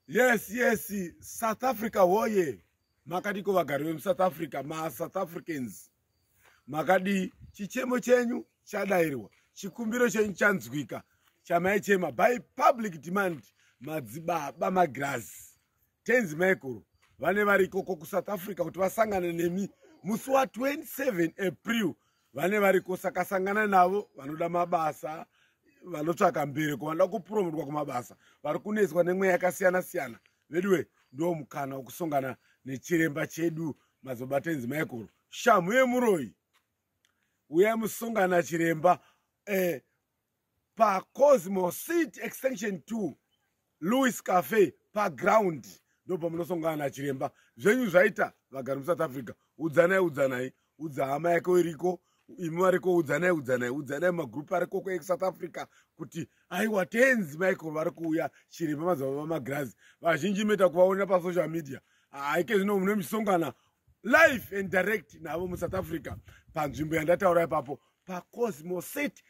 yes yes south africa woye makadiko vagari vemusouth africa masouth africans makadii chichemo chenyu chadairwa chikumbiro chenyu chanzwika chamaichema by public demand madzibaba magirazi tenzi maikuru vane variko ko kusouth africa kuti vasangane nemi musi wa 27 april vane variko saka sangana navo vanoda mabasa vanotsvaka mbereko vanoda kupromotwa kumabasa vari kunetswa nemweya yakasiyana siyana veduwe ndo mukana wokusongana nechiremba chedu mazobatenzi michael shamhu yemuroyi uyai musongana chiremba eh, pacosmo city extension 2 louis cafe paground ndo pamunosongana nachiremba zvenyu zvaita vagari musouth africa udzanai udzanai udza hama yake iriko imi variko udzanai udzanai udzanai magrupu ariko kwesouth africa kuti aiwa tenzi michael vari kuuya chiremba mazava vamagirazi vazhinji moita kuvaonera pasocial media haike zvino mune misongana life and direct navo musouth africa panzvimbo yandataura ipapo pacosmo city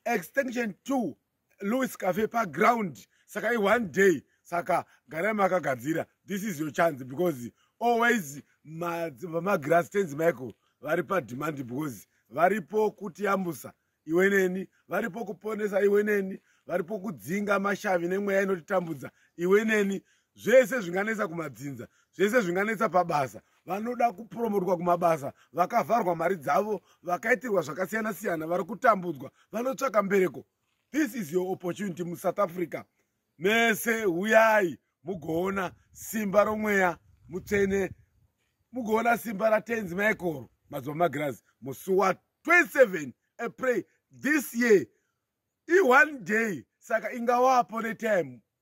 extension two louis cafe paground saka ione day saka garai makagadzira this is your chance because always vamagrass tenzi michael vari pademand because varipo kutiyambusa iwe neni varipo kuponesa iwe neni varipo kudzinga mashavi nemweya inotitambudza iwe neni zvese zvinganetsa kumadzinza zvese zvinganetsa pabasa vanoda kupromotwa kumabasa vakavharwa mari dzavo vakaitirwa zvakasiyana siyana vari kutambudzwa vanotsvaka mbereko this is your opportunity musouth africa mese huyai mugoona simba romweya mutsvene mugoona simba ratenzi maekoro mazuva magirazi musi wa 27 april this year i one day saka ingawapo netime